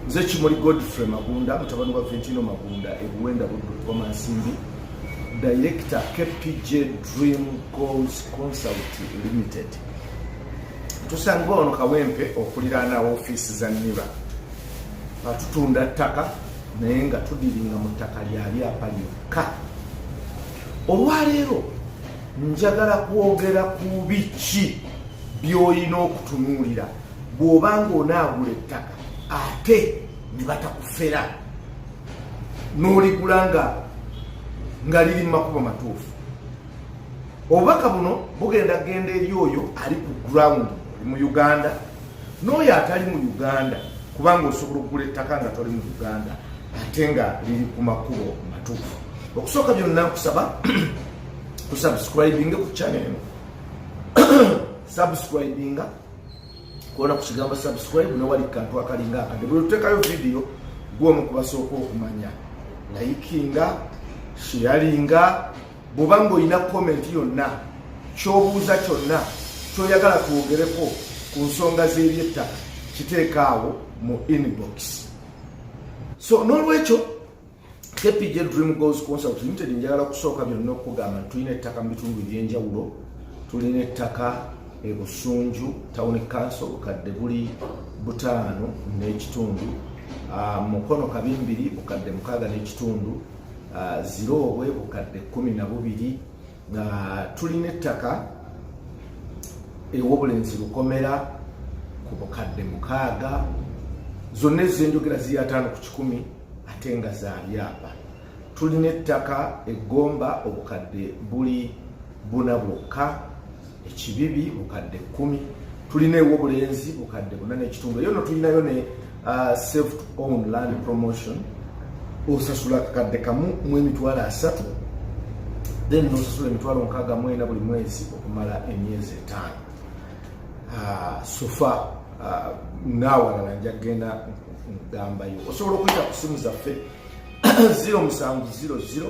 nze kimuli godfrey magunda mutabani wa ventino magunda ebuwenda budukoma nsimbi director kpj dream goals consult limited tusangibwa wano kawempe okuliraana ofiisi za niba atutunda ttaka naye nga tudiringa mu ttaka lya byapa lyokka olwaleero njagala kwogera ku biki by'olina okutunuulira bw'oba ng'onaagula ettaka ate ne batakufera n'oligula nga nga liri mu makubo matuufu obubaka buno bugenda kugenda eri oyo ali ku ground oli mu uganda n'oyo atali mu uganda kubanga osobola okugula ettaka nga toli mu uganda ate nga liri ku makubo matuufu okusooka byonna nkusaba kusubscribinga ku channel eno subscribinga kuona ku kigambo subscribe ne wali kantu akalinga akade buli tutekayo video gwe omu kubasooka okumanya layikinga sheyalinga bwoba ng'olina komenti yonna kyobuuza kyonna kyoyagala twogereko ku nsonga z'ebyettaka kiteekaawo mu inbox so n'olwekyo kpj dream goals consult limited njagala kusooka byonna okukugamba nti tulina ettaka mu bitundu ebyenjawulo tulina ettaka ebusunju town council bukadde buli butaano n'ekitundu ah, mukono kabimbiri bukadde mukaaga n'ekitundu ah, ziroobwe bukadde kumi na bubiri nga tulina ettaka ewobulenzi lukomera ku bukadde mukaaga zonna ezenjogera ziri ataano ku kikumi ate nga za byapa tulina ettaka eggomba obukadde buli buna bwokka ekibibi bukadde kumi tulina ewobulenzi bukadde buna nekitundu eyo no tulinayo ne uh, self own land promotion osasula kakadde kamu mu emitwalo asatu then nosasula emitwalo nkaaga mwena buli mwezi okumala emyezi etaano uh, sofa uh, nawalala nja kugenda ngambayo osobola okuyita ku simu zaffe 0 musanvu 00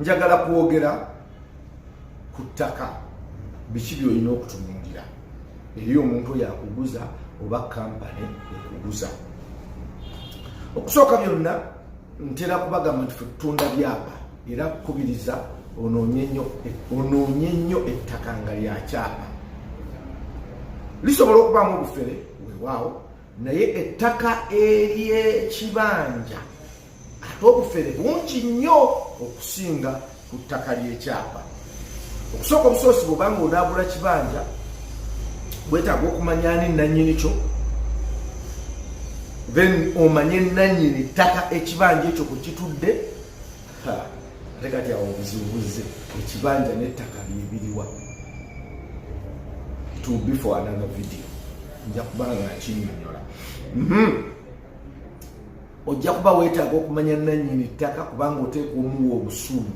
njagala kwogera ku ttaka biki byolina okutunuulira eri omuntu oyo akuguza oba kampani ekuguza okusooka byonna ntera kubagamba nti fe tutunda byapa era kukubiriza onoonye nnyo ettaka nga lyakyapa lisobola okubaamu obufere wewaawo naye ettaka ery'ekibanja ate obufere bungi nnyo okusinga ku ttaka ly'ekyapa okusooka obusoosi bwobanga onaagula kibanja bwetaaga okumanya ani nannyini kyo then omanye nannyini ttaka ekibanja ekyo kwe kitudde ate kati awo obuzibubuze ekibanja n'ettaka byebiriwa to be for another video nja kuba nga kinyonyola mhm. ojja kuba weetaaga okumanya nannyini ttaka kubanga oteeka omuwa obusuumu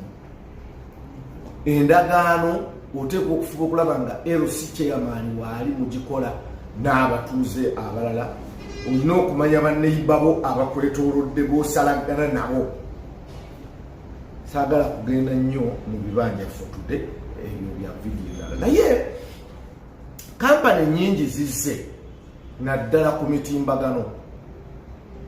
endagaano oteekwa okufuba okulaba nga lc chairman waali mugikola n'abatuuze abalala olina okumanya baneiba bo abakwetolodde bosalaggana nabo saagala kugenda nnyo mu bibanja fotude ebyo bya vidiyo ndala naye kampani nyingi zizze naddala ku mitimbagano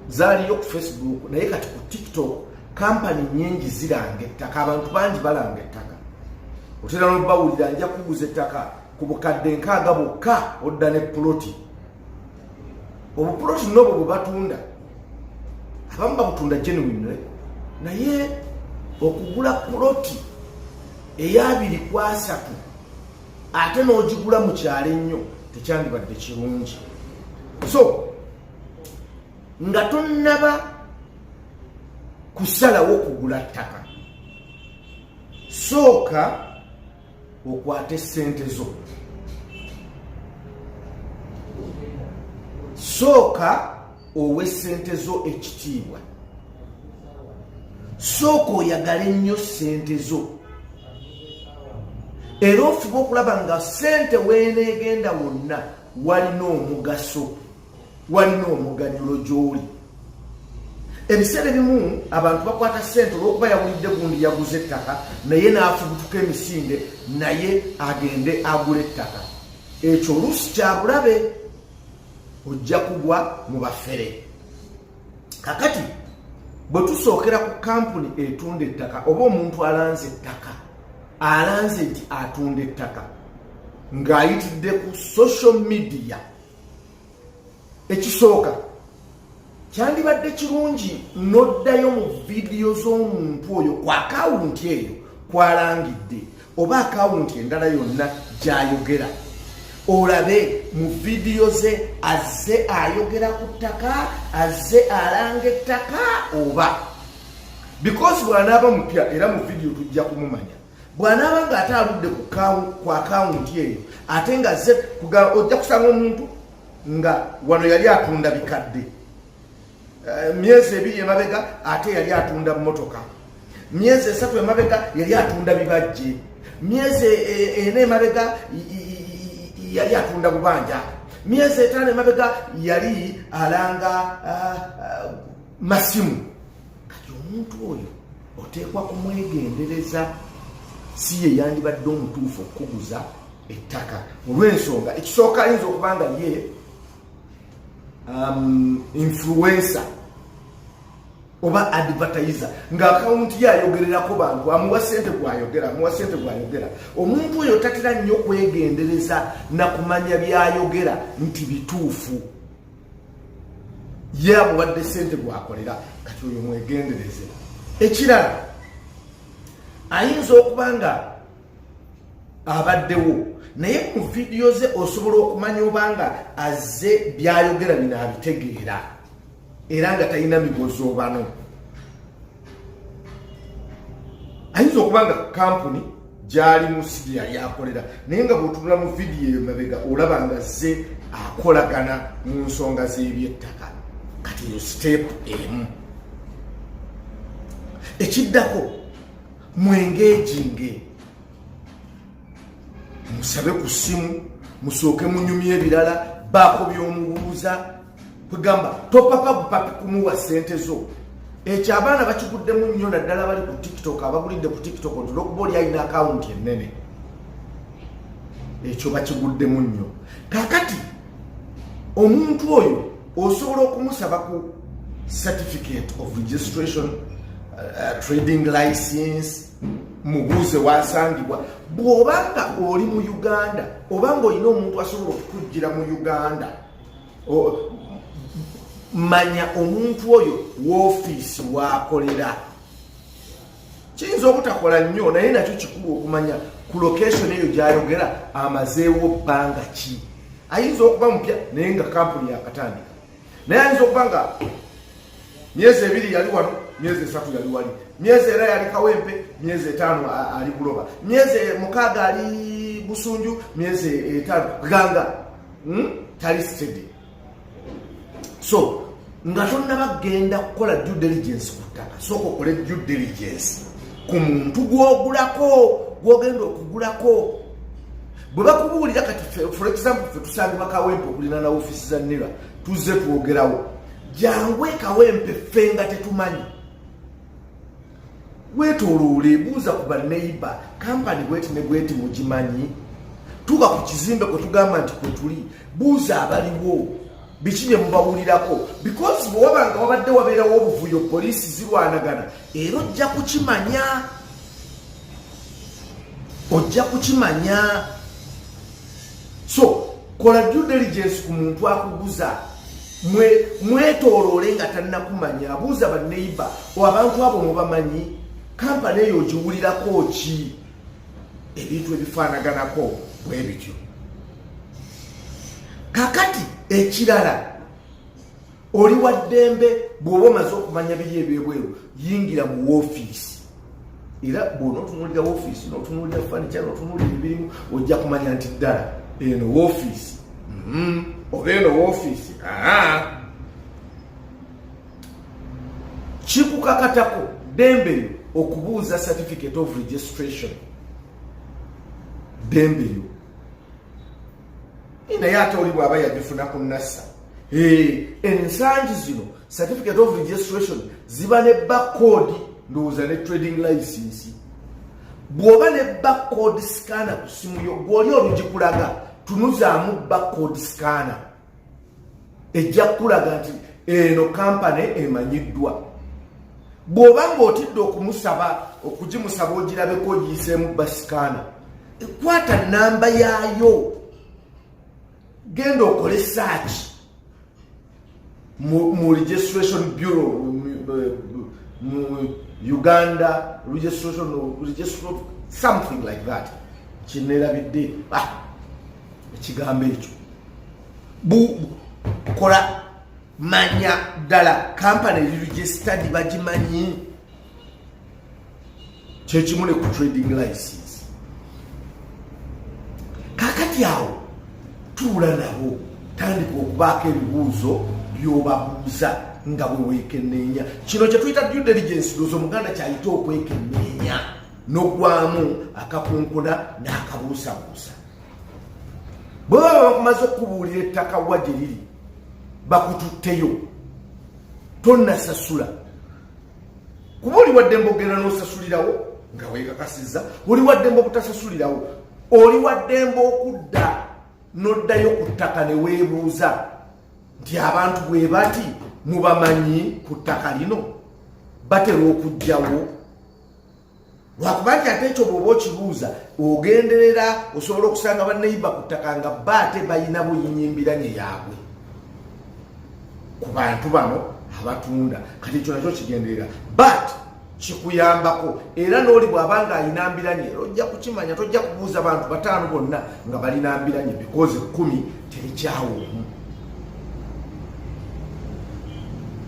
zaaliyo ku facebook naye kati ku tiktok kampani nyingi ziranga ettaka abantu bangi balanga ettaka otera nobawulira nja kuguza ettaka ku bukadde nkaaga bwokka odda ne puloti obupuloti nobwo bwebatunda abamu babutunda genuine naye okugula puloti eyabiri kwasatu ate n'ogigula mu kyalo ennyo tekyandibadde kirungi so nga tonnaba kusalawo kugula ttaka sooka okwate ssente zo sooka owe sente zo ekitiibwa sooka oyagale nnyo sente zo era ofuba okulaba nga sente weneegenda wonna walina omugaso walina omuganyulo gy'oli ebiseera ebimu abantu bakwata sente olwokuba yawulidde gundi yaguze ettaka naye n'afubutuka emisinde naye agende agula ettaka ekyo oluusi kyabulabe ojja kugwa mu bafere kakati bwe tusookera ku kampuni etunda ettaka oba omuntu alanze ettaka alanze nti atunda ettaka ng'ayitidde ku social media ekisooka kyandibadde kirungi noddayo mu vidiyo z'omuntu oyo ku akawunti eyo kwalangidde oba akawunti endala yonna gyayogera olabe mu vidiyo ze azze ayogera ku ttaka azze alanga ettaka oba because bwanaaba mupya era mu vidiyo tujja kumumanya bwanaaba nga ate aludde ku akawunti eyo ate nga ze ojja kusanga omuntu nga wano yali atunda bikadde eh, myezi ebiri emabega ate yali atunda motoka myezi esatu emabega yali atunda bibajje myezi e, e, ena emabega yali atunda bubanja myezi etaano emabega yali alanga ah, ah, masimu kati omuntu oyo oteekwa kumwegendereza si ye yandibadde omutuufu okukuguza ettaka olw'ensonga ekisooka ayinza okuba nga ye um, influensa oba advertiser nga akawunti ye ayogererako bantu amuwa sente gwayogera amuwa sente gwayogera omuntu oyo tatera nnyo kwegendereza nakumanya byayogera nti bituufu ye amuwadde sente gwakolera kati oyo mwegendereze ekirala ayinza okuba nga abaddewo naye ku vidiyo ze osobola okumanya obanga azze byayogera bino abitegeera era nga talina migozoobano ayinza okuba nga kampuni gyali mu sidi yali akolera naye nga bwotunula mu vidiyo eyo mabega olaba nga ze akolagana mu nsonga z'ebyettaka kati eyo siteepu emu ekiddako mwengejinge musabe ku ssimu musooke munyumya ebirala baako by'omubuuza kwegamba topapa bupapi kumuwa sente zo ekyo abaana bakiguddemu nnyo naddala bali ku tiktok abagulidde ku tiktok nti olwokuba oli alina akawunti ennene ekyo bakiguddemu nnyo kakati omuntu oyo osobola okumusaba ku certificate of registration uh, trading license mubuuze wasangibwa bw'oba nga oli mu uganda oba nga olina omuntu asobola okukuggira mu uganda manya omuntu oyo woofiisi waakolera kiyinza obutakola nnyo naye nakyo kikulu okumanya ku location eyo gyayogera amazeewo bbanga ki ayinza okuba mupya naye nga kampuni yakatandika naye ayinza okuba nga myezi ebiri yali wano myezi esatu yali wali myezi era yali kawempe myezi etaano ali buloba myezi mukaaga ali busunju myezi etaano ganga hmm? tali steady so nga tonnaba kugenda kukola due diligence ku ttaka sooka okole due diligence ku muntu gwogulako gwogenda okugulako bwe bakubuulira kati for example fe tusangibwa kawempe okulina na ofisi za nira tuzze twogerawo jangu ekawempe ffe nga tetumanyi wetoloole buuza ku baneiba kampani bweti ne bweti mugimanyi tuba ku kizimbe kwe tugamba nti kwe tuli buuza abaliwo biki bye mubawulirako because bwe waba nga wabadde wabeerawo obuvuyo poliisi zirwanagana era ojja kukimanya ojja kukimanya so kola due diligence ku muntu akuguza mwetoloole nga tannakumanya abuuza baneiba o abantu abo mubamanyi kampani eyo ogiwulirako ki ebintu ebifaanaganako bwe bityo kakati ekirala oli wa ddembe bw'oba omaze okumanya biri ebyebweru yingira mu woofiisi era bwona otunulira woofiisi n'otunulira fanica n'otunulira ebirimu ojja kumanya nti ddala eno woofiisi mm-hmm. oba eno woofiisi kikukakatako ddembe lyo okubuuza certificate of registration ddembe lyo naye ate oli bw'aba yagifuna ku nassa ensangi zino certificate of registration ziba ne backcode ndowooza ne trading license bw'oba ne backcode scanner ku simu yo gw'oli olugikulaga tunuzaamu backcode scanner ejja kukulaga nti eno kampani emanyiddwa bw'oba ng'otidde okumusaba okugimusaba ogirabeko ogiyiseemu basikaana ekwata namba yaayo genda okole saaki mu registration bureau mu uganda registration something like that kinerabidde ah, ekigambo ekyo bukola manya ddala kampani registered bagimanyi kyekimu ne ku trading license kakati awo tuula nabo tandika okubaako ebibuuzo byobabuuza nga bwewekenneenya kino kyetuyita due diligence doza omuganda kyayita okwekenneenya nogwamu akakunkuna n'akabuusabuusa bwe baba bakumaze okukubuulira ettaka wa gye liri bakututteyo tonnasasula kuba oli waddembe okugenda n'osasulirawo nga weekakasiza oli waddembe okutasasulirawo oli waddembe okudda n'oddayo ku ttaka ne weebuuza nti abantu bwe bati mubamanyi ku ttaka lino batera okugjawo lwakuba nti ate ekyo bwoba okibuuza ogenderera osobola okusanga baneiba ku ttaka nga ba ate balina buyinyimbiranye yaabwe ku bantu bano abatunda kati ekyo nakyo kigenderera but kikuyambako era n'oli bw'aba nga alina mbiranye era ojja kukimanya tojja kubuuza bantu bataano bonna nga balina mbiranye because ekkumi terikyawo omu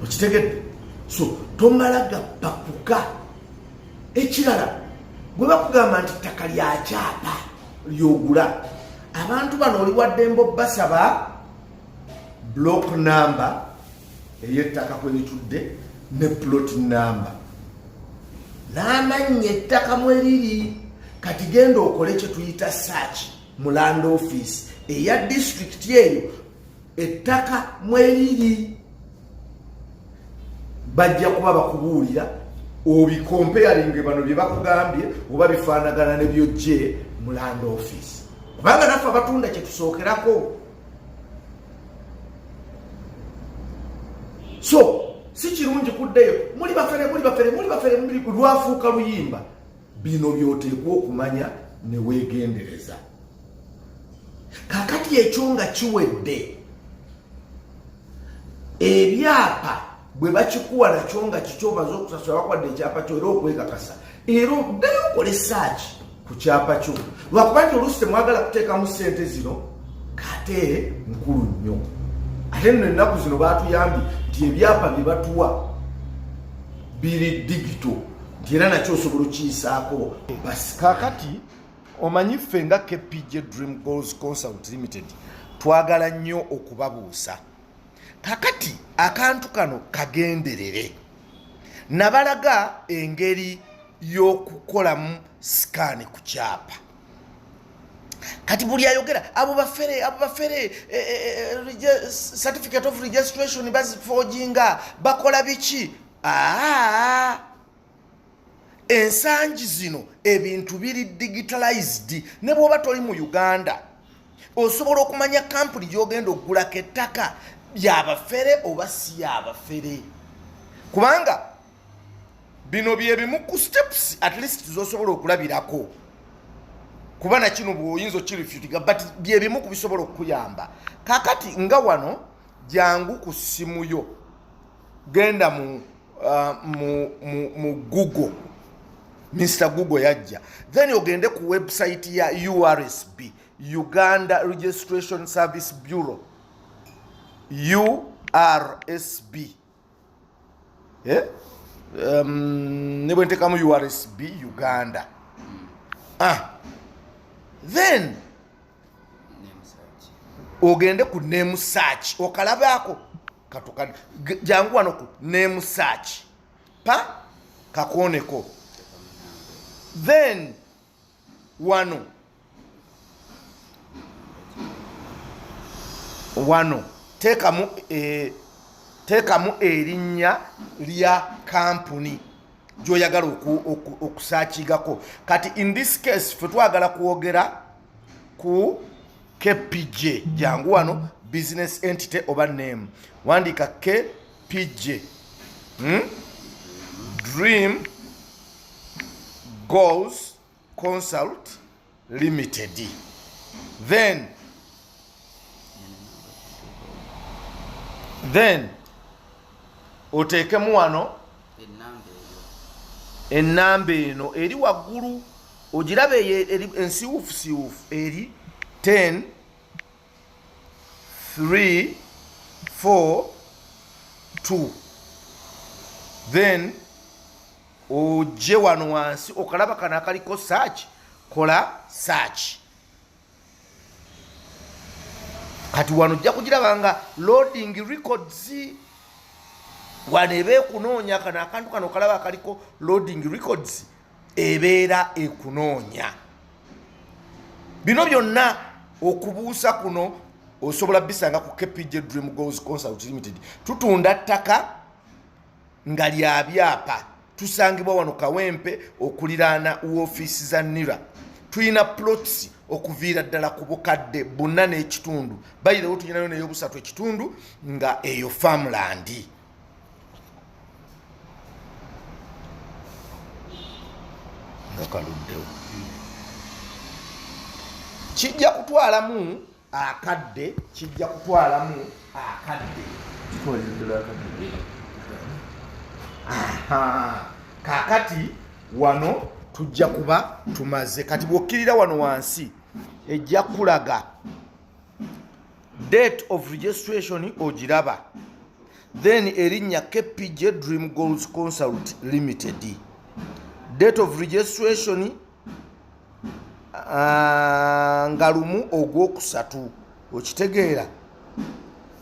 okitegedde so tomala gappakuka ekirala bwe bakugamba nti ttaka lya kyapa lyogula abantu bano oli waddemba obbasaba block number ey'ettaka kwe litudde ne plot number n'amannya ettaka mwe liri kati genda okole kye tuyita search mu land office eya disitulikiti eyo ettaka mweriri bajja kuba bakubuulira obikompeyalinge bano bye bakugambye oba bifaanagana ne byojje mu land office kubanga naffe abatunda kye tusookerako so si kirungi kuddeyo muli bafere muli bafere muli bafere lwafuuka luyimba bino byoteekwa okumanya ne weegendereza kakati ekyo nga kiwedde ebyapa bwe bakikuwa nakyo nga kikyo omaze okusasula bakwadde ekyapa kyo era okwekakasa era oddayo okole saaki ku kyapa kyo lwakuba nti oluusi temwagala kuteekamu ssente zino kate nkulu nnyo ate nno ennaku zino baatuyambye nti ebyapa bye batuwa biri digito nti era nakyo osobola okukiyisaako basi kakati omanyi ffe nga kpj dream goals consult limited twagala nnyo okubabuusa kakati akantu kano kagenderere nabalaga engeri y'okukolamu sikaani ku kyapa kati buli ayogera abo bafere abo bafere eh, eh, eh, certificate of registration bazifojinga bakola biki aa ah! ensangi zino ebintu biri digitalized ne bwoba toli mu uganda osobola okumanya kampuni gyogenda okugulako ettaka yabafere oba si yabafere kubanga bino byebimu ku steps at least zosobola okulabirako kuba nakino bwoyinza okirifutiga but byebimu ku bisobola okukuyamba kakati nga wano jangu ku ssimu yo genda mu uh, mu, mu, mu google mr google yajja then ogende ku website ya ursb uganda registration service bureau ursb eh? um, ne bwentekamu ursb uganda ah. then ogende ku name search okalabaako katukani jangu wano ku name search pa kakuoneko then wano wano tekamu e, tekamu erinnya lya kampuni gyoyagala okusakigako kati in this case fe twagala kwogera ku kpj jangu wano business entity oba name wandiika kpj hmm? dream goals consult limited then then oteekemu wano ennamba eno eri waggulu ogiraba eyo eri ensiwuufu siwuufu eri 10 3 4 2 then ojje wano wansi okalaba kano akaliko search kola search kati wano ojja kugiraba nga loading records wano eba ekunoonya kano akantu kano okalaba akaliko loading records ebeera ekunoonya bino byonna okubuusa kuno osobola bisanga ku kpj dream goals consult limited tutunda ttaka nga lya byapa tusangibwa wano kawempe okuliraana woofiisi za nira tulina plots okuviira ddala ku bukadde buna n'ekitundu bayirawo tulinayo neyobusatu ekitundu nga eyo farmlandi nga kaluddewo kijja kutwalamu akadde kijja kutwalamu akadde kakati wano tujja kuba tumaze kati bwokkirira wano wansi ejja kulaga date of registration ogiraba then erinnya kpj dream goals consult limited date of registration uh, nga lumu ogwokusatu okitegeera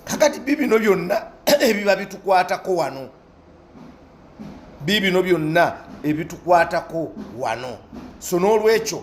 kakati bibino byonna ebiba bitukwatako wano bibino byonna ebitukwatako wano so n'olwekyo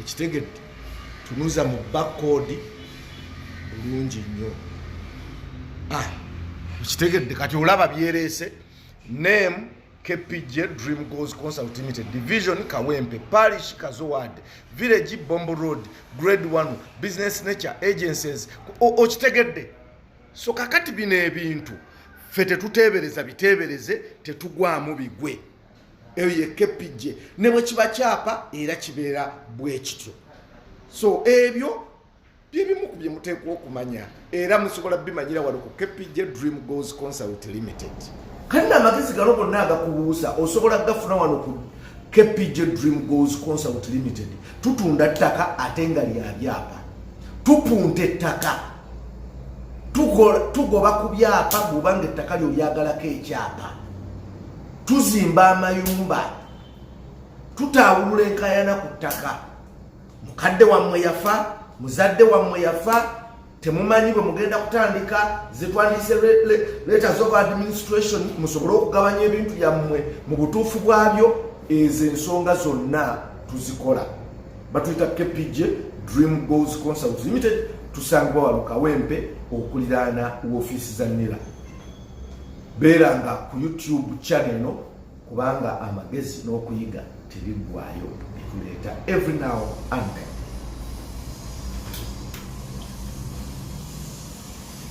okitegedde tunuza mu bakkoodi bulungi nnyo ah, okitegedde kati olaba byereese name kpg dream goes consult limited division kawempe parish kazowad village bombo road grade 1 business nature agencies okitegedde so kakati bino ebintu fe tetuteebereza biteebereze tetugwamu bigwe eyo yekepijje ne bwe kiba kyapa era kibeera bwe kityo so ebyo byebimu ku bye muteekwa okumanya era musobola bimanyira wano ku kepijje dream goals consult limited kati naamagezi gano gonna agakubuusa osobola gafuna wano ku kpj dream goals consult limited tutunda ttaka ate nga lya byapa tupunta ettaka tugoba ku byapa bwobanga ettaka lyo lyagalako ekyapa tuzimba amayumba tutaawulula enkayana ku ttaka mukadde wammwe yafa muzadde wammwe yafa temumanyi bwe mugenda kutandika zetwandise leta zoba administration musobole okugabanya ebintu byammwe mu butuufu bwabyo ezo ensonga zonna tuzikola batuyita kpj dream goals consult limited tusangibwa wano kawempe okuliraana wofiisi za nira beeranga ku youtube channel eno kubanga amagezi n'okuyiga tebiggwayo bituleeta every now and then